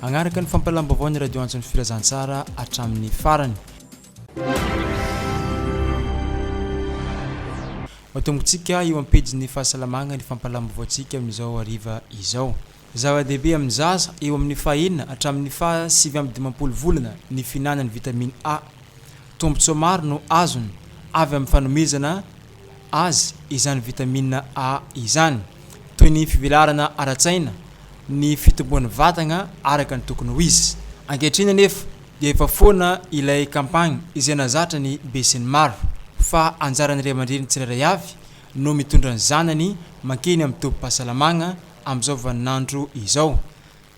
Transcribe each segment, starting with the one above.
Hanaraka ny fampahalam-baovao ny Radio Antso ny Filazantsara hatramin'ny farany. Ho atombontsika eo am-pejin'ny fahasalamagna ny fampahalam-baovaontsika amin'izao hariva izao. Zava-dehibe amin'ny zaza eo amin'ny faha enina hatramin'ny faha sivy amby dimampolo volana ny fihinanany vitamine A. Tombotsoa maro no azony avy amin'ny fanomezana. azy izany vitamina A izany, toy ny fivelarana ara-tsaina, ny fitomboan'ny vatagna araka ny tokony ho izy. Ankehitriny anefa dia efa foana ilay kampagny izay nahazatra ny besinimaro fa anjaran'ny ray aman-dreny tsirairay avy no mitondra ny zanany mankeny amin'ny tobim-pahasalamagna amin'izao vaninandro izao.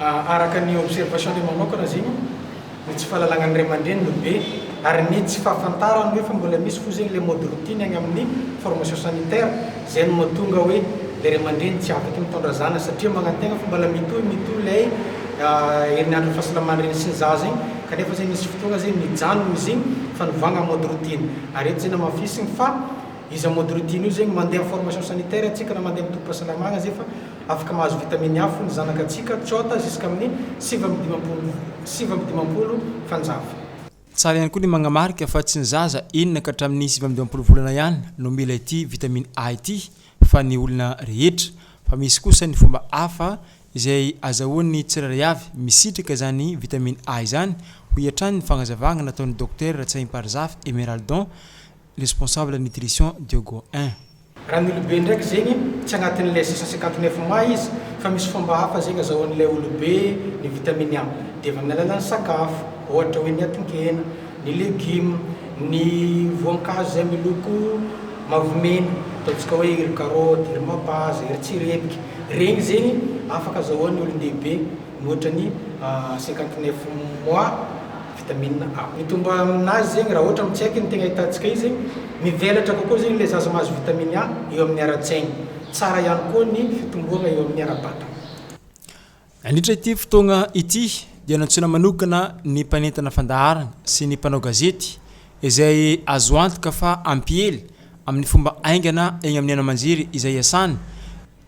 Araka ny observation-ny manokana zegny ny tsy fahalalagnan'ny ray aman-dreny no be ary ny tsy fahafantarany hoe fa mbola misy fo zegny le mode routine agny amin'ny formation sanitaire zay no mahatonga hoe le ray aman-dreny tsy afaky mitondra zanany satria magnantegna fa mbola mitohy mitohy lay herinandron'ny fahasalamany reny sy ny zaza igny kanefa zegny misy fotoagna zegny mijanogny izy igny fa novàgna mode routine ary eto zay namafisigny fa iza mode routine io zegny mandeha amin'ny formation sanitaire antsika na mandeha amin'ny tobim-pahasalamagna zay fa Afaka mahazo vitaminy afo ny zanaka antsika, Cota, ziskamin'ny sivy amby dimampolo sivy amby dimampolo fanjava. Tsara ihany koa ny magnamarika fa tsy ny zaza enina ka hatramin'ny sivy amby dimampolo volana ihany no mila ity vitamine A ity fa ny olona rehetra, fa misy kosa ny fomba hafa izay azahoan'ny tsirairay avy misitraka izany vitamine A izany, hoy hatrany ny fagnazavagna nataon'ny Dokotera Ratsaimparizafy Emeraldon, responsable nutrition Diogo I. Raniolobe ndraiky zegny tsy agnatin'ny les six cent cinquante neuf mois izy fa misy fomba hafa zegny azahoan'ilay olobe ny vitamine A dia avy amin'ny alalan'ny sakafo ohatra hoe ny atin-kena, ny legume, ny voankazo izay miloko mavomena ataontsika hoe iry karaoty, iry mapaza, iry tsirebika, regny zegny afaka azahoan'ny olon-dehibe mihoatra ny cinquante neuf mois. Vitamine A. Mitombo aminazy zegny raha ohatra tsy haiko ny tegna ahitantsika izy, mivelatra kokoa zegny le zaza mahazo vitamine A eo amin'ny ara-tsaigny. Tsara ihany koa ny fitomboagna eo amin'ny ara-batagna. Nandritra ity fotoagna ity dia nantsoina manokana ny mpanentana fandaharana sy ny mpanao gazety izay azo antoka fa hampiely amin'ny fomba haingana egny amin'ny haino aman-jery izay iasany,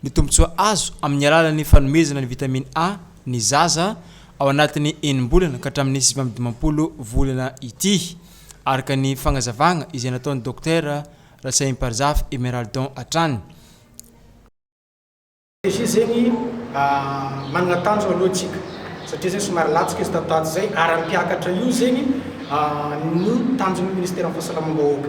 Ny tombontsoa azo amin'ny alalan'ny fanomezana ny vitamine A ny zaza ao anatin'ny enim-bolana ka hatramin'ny sivy amby dimampolo volana ity, araka ny fagnazavagna izay nataon'ny Dokotera Ratsahimparjafy Emeraldon hatrany. Izy zegny managna tanjona aloha antsika satria zegny somary latsaka izy tato ho ato zay ary hampiakatra io zegny ny tanjon'ny Ministeran'ny Fahasalamam-bahoaka.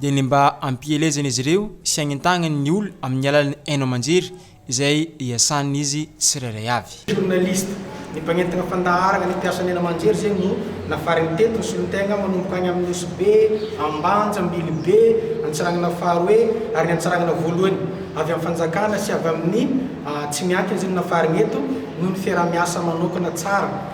dia ny mba hampielezana izy ireo sy hagnentagnany ny olona amin'ny alalan'ny haino aman-jery izay iasan'izy tsirairay avy. Journaliste, ny mpagnentana fandaharana, ny mpiasan'ny haino aman-jery izay no nafarany teto, ny solontenga manomboka any amin'ny Nosy-Be, Ambanja, Ambilibe, Antsarangana faharoe ary ny Antsarangana voalohany. Avy amin'ny fanjakana sy avy amin'ny tsy miankina izay no nafarany eto noho ny fiaraha-miasa manokana tsara.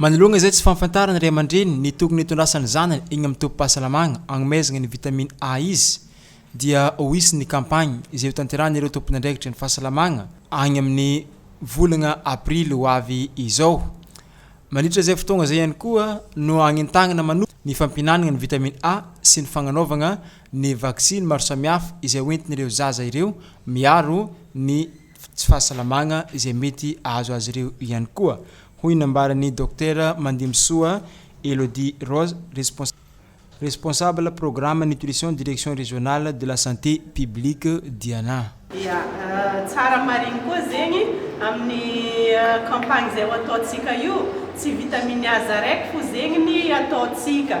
Manoloana izay tsy fahafantaran'ny ray aman-dreny ny tokony hitondrasan'ny zanany eny amin'ny tobim-pahasalamana hanomezana ny vitamine A izy dia ho hisy ny kampagny izay hotanterahan'ireo tompon'andraikitry ny fahasalamana any amin'ny volana aprily ho avy izao. Mandritra izay fotoagna izay ihany koa no hagnentagnana manokana ny fampihinanagna ny vitamine A sy ny fagnanaovagna ny vaksiny maro samihafa izay hoentin'ireo zaza ireo miaro ny tsy fahasalamagna izay mety hahazo azy ireo ihany koa, hoy ny nambaran'ny Dokotera Mandimbisoa Elodie Rose, Responsable Programme Nutrition Direction Régionale de la Santé Publique Diana. Ia, tsara marigny koa zegny amin'ny campagne izay ho ataontsika io, tsy vitamine aza araiky fo zegny ny ataontsika,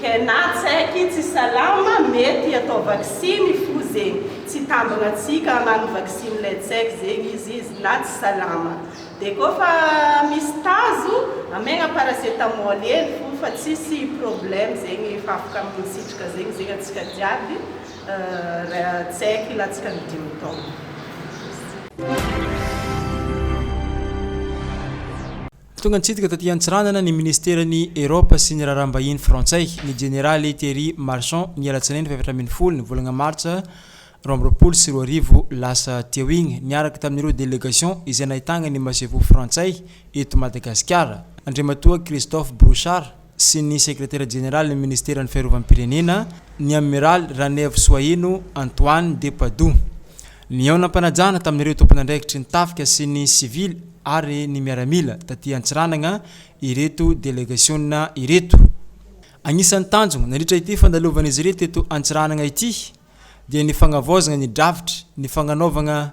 Tena tsaiky tsy salama mety atao vaksiny fo zegny tsy hitambagna antsika hagnano vaksiny lay tsaiky zegny izy izy na tsy salama de koa fa misy tazo amegna paracetamol hely fo fa tsisy problème zegny efa afaka misitraka zegny zegny antsika jiaby tsaiky latsaka ny dimy taogno. Tonga nitsidika taty Antsiranana ny Ministeran'ny Eropa sy ny Raharaham-bahiny Frantsay, ny Jeneraly Thierry Marchand, ny alatsinainy fahefatra ambin'ny folo ny volana martsa roa amby roapolo sy roa arivo lasa teo igny, niaraka tamin'ireo delegation izay nahitagna ny Masoivoho Frantsay eto Madagasikara, Andriamatoa Christophe Brouchard. sy ny Sekretera Jeneralin'ny Ministeran'ny Fiarovam-pirenena, ny Amiraly Ranaivosoaheno Antoine de Padoue. Nihaonam-panajana tamin'ireo tompon'andraikitry ny tafika sy ny sivily ary ny miaramila taty Antsiranana ireto delegasiona ireto. Anisan'ny tanjona nandritra ity fandalovan'izy ireto teto Antsiranana ity dia ny fagnavaozana ny drafitry ny fagnanaovana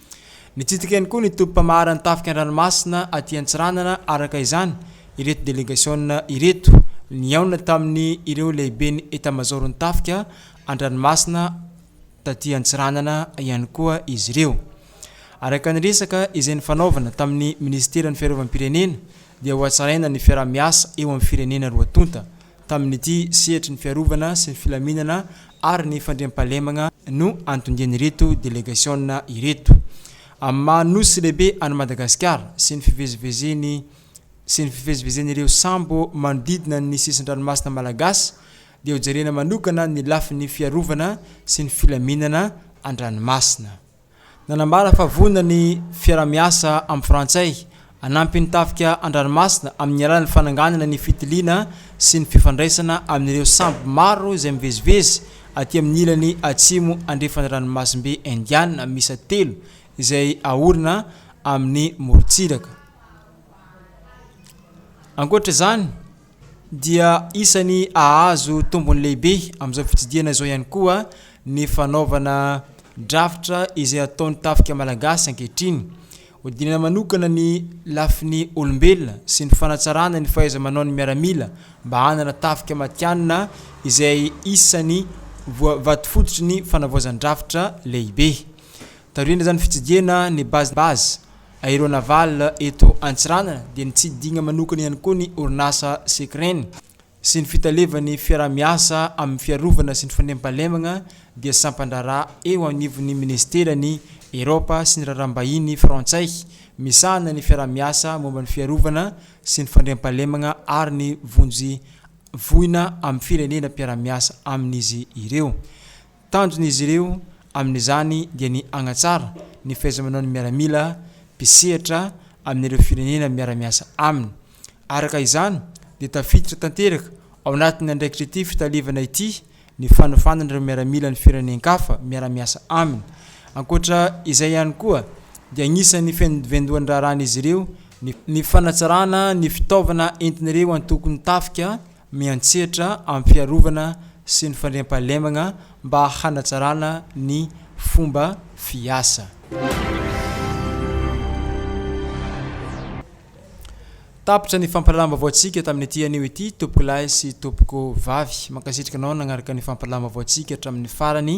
Nitsidika ihany koa ny tobim-pamaharan'ny tafika an-dranomasina aty Antsiranana araka izany ireto delegasiona ireto. Nihaona tamin'ny ireo lehiben'ny etamazaoron'ny tafika an-dranomasina taty Antsiranana ihany koa izy ireo. Araka ny resaka izay nifanaovana tamin'ny minisiteran'ny fiarovam-pirenena dia hohatsaraina ny fiaraha-miasa eo amin'ny firenena roa tonta. Tamin'ity sehatry ny fiarovana sy ny filaminana ary ny fandriampahalemagna no antondian'ireto delegasiona ireto amin'ny maha Nosy lehibe an'i Madagasikara sy ny fivezivezeny sy ny fivezivezen'ireo sambo manodidina ny sisin-dranomasina malagasy dia hojerena manokana ny lafiny fiarovana sy ny filaminana an-dranomasina. Nanambara fa vonona ny fiaraha-miasa amin'ny Frantsay hanampy ny tafika an-dranomasina amin'ny alalan'ny fananganana ny fitiliana sy ny fifandraisana amin'ireo sambo maro izay mivezivezy aty amin'ny ilany atsimo andrefan'ny Ranomasimbe Indiana miisa telo izay aorina amin'ny morontsiraka. Ankoatra izany, dia isan'ny hahazo tombony lehibe amin'izao fitsidihana izao ihany koa ny fanaovana drafitra izay ataon'ny tafika malagasy ankehitriny. Hodinana manokana ny lafiny olombelona sy ny fanatsarana ny fahaiza-manaon'ny miaramila mba hanana tafika matihanina izay isan'ny vatofototr'ny fanavaozan-drafitra lehibe. Taorian'izany fitsidihana ny base base. Aéronaval eto Antsiranana dia nitsidihigna manokana ihany koa ny orinasa Secrene sy ny fitalevan'ny fiaraha-miasa amin'ny fiarovana sy ny fandriampahalemagna dia sampan-draharaha eo anivon'ny minisiteran'ny Eropa sy ny raharaham-bahiny frantsay misahana ny fiaraha-miasa momba ny fiarovana sy ny fandriampahalemagna ary ny vonjy voina amin'ny firenena mpiara-miasa amin'izy ireo. Tanjon'izy ireo amin'izany dia ny hanatsara ny fahaiza-manaon'ny miaramila mpisehatra amin'ireo firenena miara-miasa aminy. Araka izany dia tafiditra tanteraka ao anatin'ny andraikitr'ity fitaleovana ity ny fanofanana ireo miaramilan'ny firenen-kafa miara-miasa aminy. Ankoatra izay ihany koa dia anisan'ny fiandohan'ny raharahan'izy ireo ny fanatsarana ny fitaovana entin'ireo antokon'ny tafika miantsetra amin'ny fiarovana sy ny fandriampahalemagna mba hanatsarana ny fomba fiasa. Tapitra ny fampahalalam-baovaontsika tamin'ity anio ity tompokolahy sy tompoko vavy. Mankasitraka anao nagnaraka ny fampahalalam-baovaontsika hatramin'ny farany.